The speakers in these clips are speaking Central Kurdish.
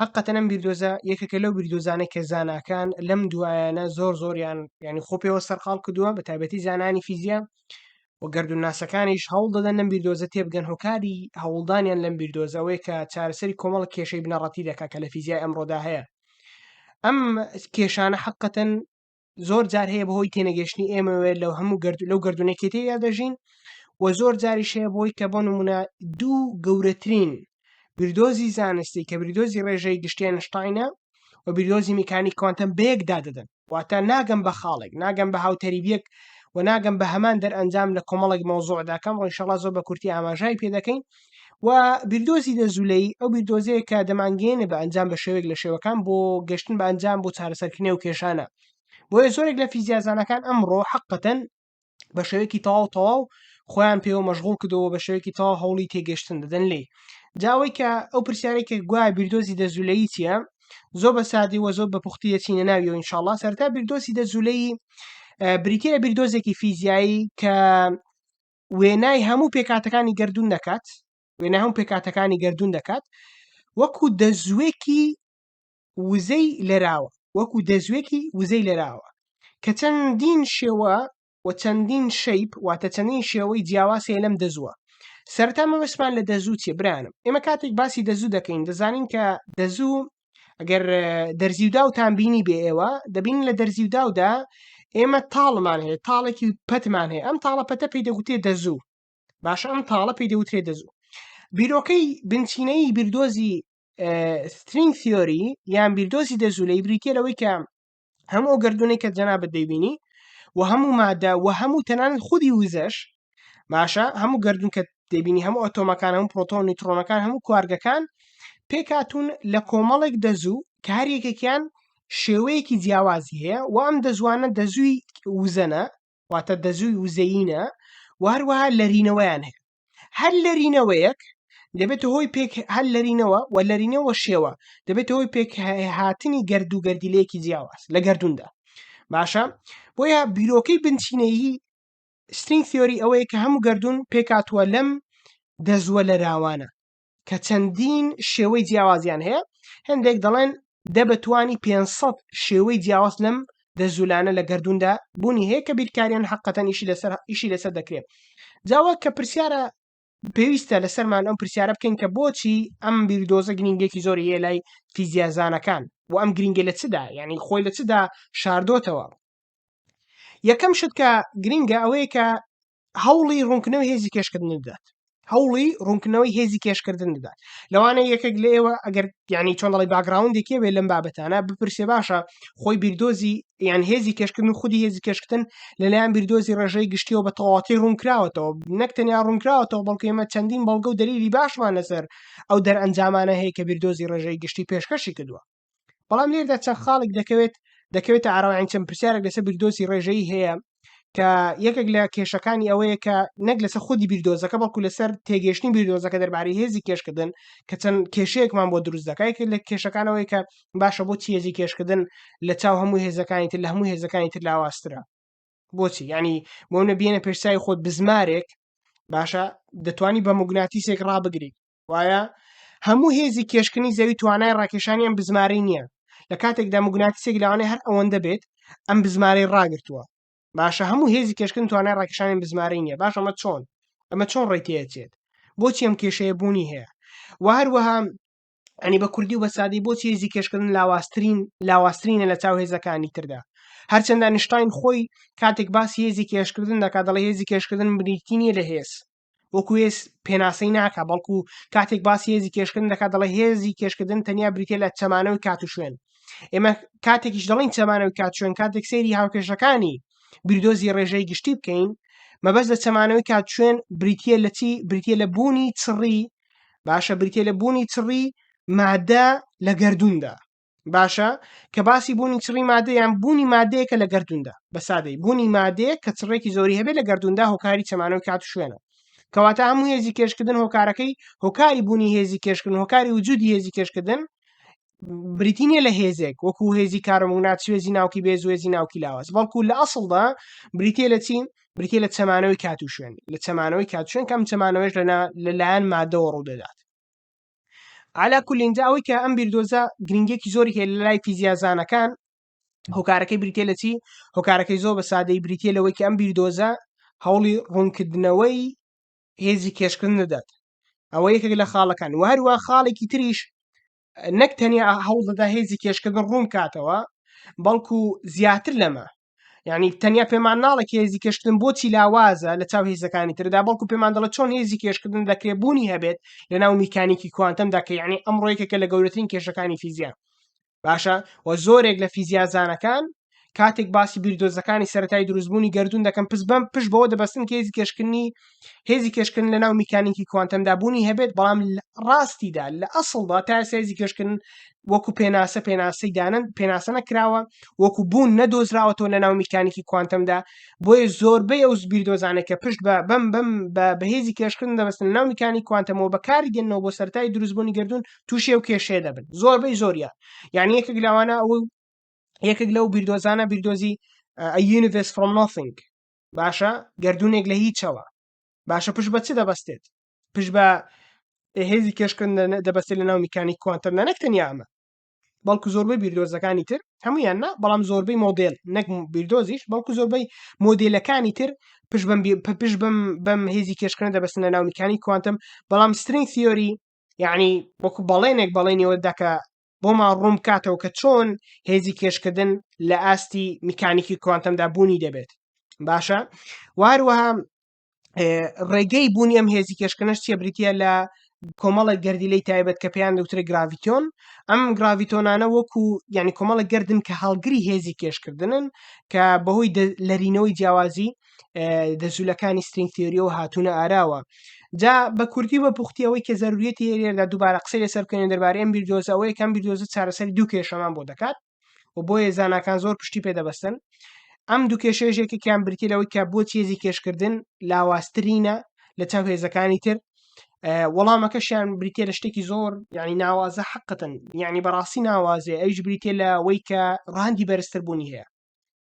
حقەتەن ئەم بیردۆزە یەکێکە لەو بیردۆزانە کە زاناکان لەم دوایانە زۆر زۆریان ینی خۆ پێوە سەرقال کردووە بە تایبەتی زانانی فیزیا و گردون ناسەکانیش هەوڵ دەدەن لەم بیردۆزە تێبگەن هۆکاری هەوڵدانیان لەم بیردۆزەوەی کە چارەسەری کۆمەڵ کێشەی بنەڕەتی دەکات کە لە فیزیای ئەمڕۆدا هەیە ئەم کێشانە حقەتەن زۆر جار هەیە بەهۆی تێنەگەشتنی ئێمەوێت لەو هەموو گرد لەو گردونەکێتەیە دەژین و زۆر جاریش هەیە بۆی کە بۆ نمونە دوو گەورەترین بردۆزی زانستی کە بردۆزی ڕێژەی گشتیان شتینە و بیردۆزی میکانی کوانتەم بەیەکدا دەدەن واتە ناگەم بە خاڵێک ناگەم بە هاوتەریبیەک و ناگەم بە هەمان دەرئەنجام لە کۆمەڵێک مەوزۆعداکەم ڕۆیشەڵا زۆر بە کورتی ئاماژای پێ دەکەین و بیردۆزی لە زولەی ئەو بیردۆزەیە کە دەمانگەێنە بە ئەنجام بە شێوێک لە شێوەکان بۆ گەشتن بە ئەنجام بۆ چارەسەرکردنی و کێشانە بۆیە زۆرێک لە فیزیازانەکان ئەمڕۆ حقەتەن بە شێوەیەکی تەواو تەواو خۆیان پێوە مەشغول کردەوە بە شێوەیەکی تا هەوڵی تێگەشتن دەدەن لێ جاوەی کە ئەو پرسیارێک کە گوایە بیردۆزی دەزولەی چیە زۆر بە سادی وە زۆر بە پوختی دەچینە ناوی و انشاءله سەرتا بیردۆسی دەزولەی بریتە بیردۆزێکی فیزیایی کە وێنای هەموو پێکاتەکانی گردون دەکات وێنا هەم پێکاتەکانی گردون دەکات وەکو دەزوێکی وزەی لەراوە وەکو دەزوێکی وزەی لەراوە کە چەندین شێوە و چەندین شەیپ واتە چەندین شێوەی جیاواسێ لەم دەزووە سەرتا مەوەسمان لە دەزوو چێ برانم ئێمە کاتێک باسی دەزوو دەکەین دەزانین کە دەزوو ئەگەر دەرزی و داوتان بینی بێ ئێوە دەبین لە دەرزی و داودا ئێمە تاڵمان هەیە تاڵێکی پەتمان هەیە ئەم تاڵە پەتە پێی دەگوتێ دەزوو باشە ئەم تاڵە پێی دەوترێ دەزوو بیرۆکەی بنچینەی بیردۆزی سترینگ تیۆری یان بیردۆزی دەزوو لەی بریتە لەوەی کە هەموو ئەو گردونەی کە جەنابەت دەیبینی و هەموو مادە و هەموو تەنان خودی وزەش باشە هەموو گردون کە دەبینی هەموو ئۆتۆمەکان هەموو پرۆتۆن نیترۆنەکان هەموو کوارگەکان پێکاتون لە کۆمەڵێک دەزوو کە هەر یەکێکیان شێوەیەکی جیاوازی هەیە و ئەم دەزوانە دەزووی وزەنە واتە دەزووی وزەینە و هەروەها لەرینەوەیان هەیە هەر لەرینەوەیەک دەبێتە هۆی پێک هەر لەرینەوە و لەرینەوە شێوە دەبێتە هۆی پێک هاتنی گرد و گردیلەیەکی جیاواز لە گردوندا باشە بۆیە بیرۆکەی بنچینەیی سترینگ تیۆری ئەوەیە کە هەموو گردون پێکاتوە لەم دەزووە لە راوانە کە چەندین شێوەی جیاوازیان هەیە هەندێک دەڵێن دە بەتوانی 500 شێوەی جیاواز لەم دەزولانە لە گردوندا بوونی هەیە کە بیرکاریان حقەتەن ئیشی لەسەر ئیشی لەسەر دەکرێت جاوە کە پرسیارە پێویستە لەسەرمان ئەم پرسیارە بکەین کە بۆچی ئەم بیردۆزە گرنگێکی زۆری هەیە لای فیزیازانەکان و ئەم گرنگە لە چدا یعنی خۆی لە چدا شاردۆتەوە یەکەم شت کە گرنگە ئەوەیە کە هەوڵی ڕوونکردنەوەی هێزی کێشکردن بدات هەوڵی ڕوونکردنەوەی هێزی کێشکردن بدات لەوانە یەکێک لە ئێوە ئەگەر ینی چۆن دەڵی باگراوندێکی بێ لەم بابەتانە بپرسێ باشە خۆی بیردۆزی یان هێزی کێشکردن و خودی هێزی کێشکردن لەلایەن بیردۆزی ڕێژەی گشتیەوە بە تەواتی ڕوونکراوەتەوە نەک تەنیا ڕوونکراوەتەوە بەڵکو ئمە چەندین بەڵگە و دەلیلی باشمان لەسەر ئەو دەرئەنجامانە هەیە کە بیردۆزی ڕێژەی گشتی پێشکەشی کردووە بەڵام لێردا چەند خاڵک دەکەوێت دەکەوێتە ئاراوەیان چەند پرسیارێک لەسەر بیردۆزی ڕێژەیی هەیە کە یەکێک لە کێشەکانی ئەوەیە کە نەک لەسەر خودی بیردۆزەکە بەڵکو لەسەر تێگەشتنی بیردۆزەکە دەربارەی هێزی کێشکردن کە چەند کێشەیەکمان بۆ دروست دەکای لە کێشەکانەوەی کە باشە بۆ چێزی کێشکردن لە چاو هەموو هێزەکانی تر لە هەموو هێزەکانی تر لاواسترە بۆچی ینی بۆ نە بێنە پێشسای خۆت بزمارێک باشە دەتوانی بە مگوناتیسێک ڕابگریت وایە هەموو هێزی کێشکنی زەوی توانای ڕاکێشانی ئەم بزماری نییە لە کاتێکدا مگوناتیسێک لەوانەیە هەر ئەوەندە بێت ئەم بزمارەی ڕاگرتووە باشە هەموو هێزی کێشکن توانای ڕاکشانی بزماری نییە باش ئەمە چۆن ئەمە چۆن ڕێتێچێت بۆچی ئەم کێشەیە بوونی هەیە و هەروەها ئەنی بە کوردی و بە سادی بۆ چێزی کێشکردن لاواسترین لاواسترینە لە چاو هێزەکانی تردا هەرچەندە نیشتین خۆی کاتێک باسی هێزی کێشکردن دەکات دەڵی هێزی کێشکردن بریتی نیە لە هێز وەکو هێز پێناسەی ناکە بەڵکو کاتێک باسی هێزی کێشکردن دەکات دەڵێ هێزی کێشکردن تەنیا بریتە لە چەمانەوەی کات و شوێن ئێمە کاتێکیش دەڵین چەمانەوەی کات شوێن کاتێک سەیری هاوکێشەکانی بیردۆزی ڕێژەی گشتی بکەین مەبەست لە چەمانەوەی کات شوێن بریتە لە چی بریتە لە بوونی چڕی باشە بریتە لە بوونی چڕی مادە لە گردوندا باشە کە باسی بوونی چڕی مادەیان بوونی مادەیەکە لە گردوندا بە سادەی بوونی مادەیە کە چڕێکی زۆری هەبێت لە گردوندا هۆکاری چەمانەوە کات شوێنە کەواتە هەموو هێزی کێشکردن هۆکارەکەی هۆکاری بوونی هێزی کێشکردن هۆکاری وجودی هێزی کێشکردن بریتینە لە هێزێک وەکو هێزی کارمونات سوێزی ناوکی بێ زوێزی ناوکی لاواز بەڵکو لە ئەسڵدا بریتێ لە چین بریتێ لە چەمانەوەی کات و شوێن لە چەمانەوەی کات شوێن کەم چەمانەوەش لەنا لەلایەن مادەوە ڕوو دەدات علا کولین جا ئەوەی کە ئەم بیردۆزە گرنگێکی زۆری هەیە لای فیزیازانەکان هۆکارەکەی بریتێ لە چی هۆکارەکەی زۆر بە سادەی بریتە لەوەی کە ئەم بیردۆزە هەوڵی ڕوونکردنەوەی هێزی کێشکردن دەدات ئەوە یەکێک لە خاڵەکان و هەروە خاڵێکی تریش نەک تەنیا هەوڵ دەدا هێزی کێشکردن ڕوون کاتەوە بەڵکو زیاتر لەمە یعنی تەنیا پێمان ناڵە هێزی کێشکردن بۆچی لاوازە لە چاو هێزەکانی تردا بەڵکو پێمان دەڵە چۆن هێزی کێشکردن دەکرێبوونی هەبێت لە ناو میکانیکی کوانتەمدا کە یعنی ئەم ڕۆیکەکە لە گەورەترین کێشەکانی فیزیا باشە و زۆرێک لە فیزیازانەکان کاتێک باسی بیردۆزەکانی سەتای دروستبوونی گردون دەکەم پس بم پشت بەوە دەبستن کێزی کێشکردنی هێزی کێشکردن لە ناو میکانیکی کوانتەمدا بوونی هەبێت بەڵام ڕاستیدا لە ئەسڵدا تا سێزی کێشکردن وەکو پێناسە پێناسی دانن پێناسە نەکراوە وەکو بوون نەدۆزراوەتەوە لە ناو میکانیکی کوانتەمدا بۆیە زۆربەی ئەو زبیر دۆزانێک کە پشت بە بەم بەم بە بەهێزی کێشکردن دەبستن ناو میکانی کوانتەمەوە بەکاری دێنەوە بۆ سەرای دروستبوونی گردون تووشێ و کێشێ دەبن زۆربەی زۆریە یعنی یەکە گلاوانە ئەو یەکێک لەو بیردۆزانە بیردۆزی یونیڤس فرۆم نۆفینگ باشە گردونێک لە هیچەوە باشە پشت بە چ دەبەستێت پشت بە هێزی کێشکرد دەبەستێت لە ناو میکانیک کوانتەم نەک تەنیا ئەمە بەڵکو زۆربەی بیردۆزەکانی تر هەمویان نا بەڵام زۆربەی مۆدل نەک بیردۆزیش بەڵکو زۆربەی مۆدلەکانی تر پش بم پش بم بەم هێزی کێشکردن دەبستنە ناو میکانی کوانتم بەڵام سترین سیۆری یعنی وەکو بەڵێنێک بەڵێنیەوە دەکە بۆمان ڕوون بکاتەوە کە چۆن هێزی کێشکردن لە ئاستی میکانیکی کوانتەمدا بوونی دەبێت باشە واروەها ڕێگەی بوونی ئەم هێزی کێشکنەش چیە بریتە لە کۆمەڵە گردیلەی تایبەت کە پێیان دەوترێت گراڤیتۆن ئەم گراڤیتۆنانە وەکو ینی کۆمەڵە گردن کە هەڵگری هێزی کێشکردنن کە بەهۆی لەرینەوەی جیاوازی دەزولەکانی سترینگ تیۆریەوە هاتوونە ئاراوە جا بە کوردی بە پوختیەوەی کە زەروریەتی هێرێدا دووبارە قسەی لەسەر بکەێن دەربارەی ئەم بیردۆزەوە یەکەم بیردۆزە چارەسەر دوو کێشەمان بۆ دەکات و بۆیە زانکان زۆر پشتی پێ دەبستن ئەم دوو کێشێژێکێکیان برتی لەوەی کە بۆ چێزی کێشکردن لاواسترینە لە چاو هێزەکانی تر وەڵامەکەشیان بریتە لە شتێکی زۆر یعنی ناوازە حقتن یعنی بەڕاستی ناوازێ ئەوش بریتە لە وەی کە ڕاندی بەرزتر بوونی هەیە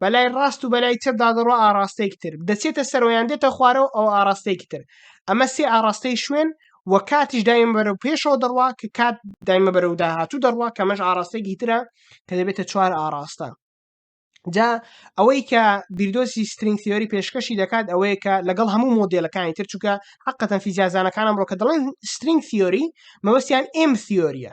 بەلای ڕاست و بەلای چەپ دادەڕوە ئاراستەیەکی تر دەچێتە سەرۆیان دێتە خوارەوە ئەو ئاراستەیەکی تر ئەمە سێ ئاراستەی شوێن و کاتیش دایمە بەرە و پێشەوە دەڕوا کە کات دایمە بەرە و داهاتوو دەڕوا کەمەش ئاراستەیەکی ترە کە دەبێتە چوار ئاراستە جا ئەوەی کە بیردۆسی سترینگ تیۆری پێشکەشی دەکات ئەوەیە کە لەگەڵ هەموو مۆدلەکانی تر چووکە حقەتەن فیزیازانەکانم ڕۆکە دەڵێن سترینگ تیۆری مەوەستیان ئێم تیۆریە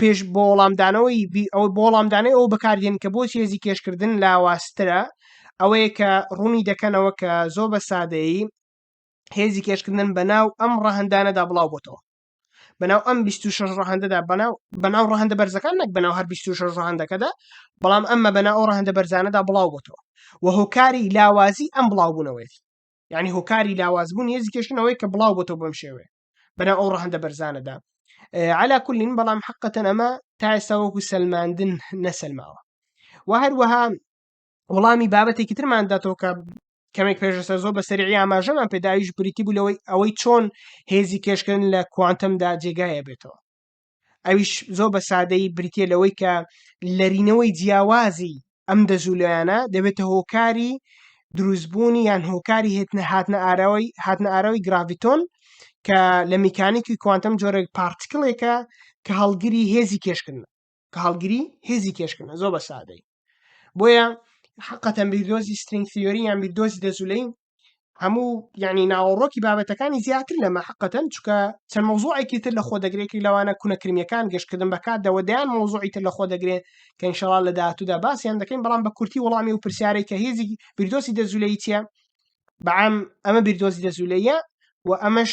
پێش بۆ وەڵامدانەوەی ئەو بۆ وەڵامدانەوەی ئەو بەکاردێن کە بۆچی هێزی کێشکردن لاوازترە ئەوەیە کە ڕوونی دەکەنەوە کە زۆر بە سادەیی هێزی کێشکردن بە ناو ئەم ڕەهندانەدا بڵاو بۆتەوە بەناو ئەم 26 ڕەهندەدا بەناو بەناو ڕەهندە بەرزەکان نەک بەناو هەر 26 ڕەهندەکەدا بەڵام ئەمە بەنا ئەو ڕەهندە بەرزانەدا بڵاو بۆتەوە و هۆکاری لاوازی ئەم بڵاوبوونەوەیەتی یعنی هۆکاری لاوازبوون هێزی کێشنەوەی کە بڵاو بۆتەوە بەم شێوەیە بەناو ئەو ڕەهندە بەرزانەدا علا کولین بەڵام حقەتەن ئەمە تا ئێستا وەکو سلماندن نەسلماوە و هەروەها وڵامی بابەتێکی ترمان داتەوە کە کەمێک پێشسە زۆر بە سەرعی ئاماژەمان پێداویش بریتی بوو لەوەی ئەوەی چۆن هێزی کێشکردن لە کوانتمدا جێگایە بێتەوە ئەویش زۆر بە سادەیی بریتە لەوەی کە لەرینەوەی جیاوازی ئەم دەزولۆیانە دەبێتە هۆکاری دروستبوونی یان هۆکاری هێتنە هاتنە ئاراوی هاتنە ئاراوی گراڤیتۆن کە لە میکانیکی کوانتم جۆرێک پارتکلێکە کە هەڵگری هێزی کێشکردن کە هەڵگری هێزی کێشکردن زۆر بە سادەی بۆیە حقەتەن بیردۆزی سترینگ تیۆری یان بیردۆزی دەزولەی هەموو یعنی ناوەڕۆکی بابەتەکانی زیاتر لەمە حقەتەن چکە چەند مۆزۆعێکی تر لە خۆ دەگرێکی لەوانە کونەکرمیەکان گەشتکردن بەکاتەوە دەیان مۆزۆعی تر لە خۆ دەگرێت کە انشاءڵ لە داهاتوودا باسییان دەکەین بەڵام بە کورتی وڵامی و پرسیارێک کە هێزی بیردۆسی دەزولەی چیە بەعام ئەمە بیردۆزی دەزولەیە و ئەمەش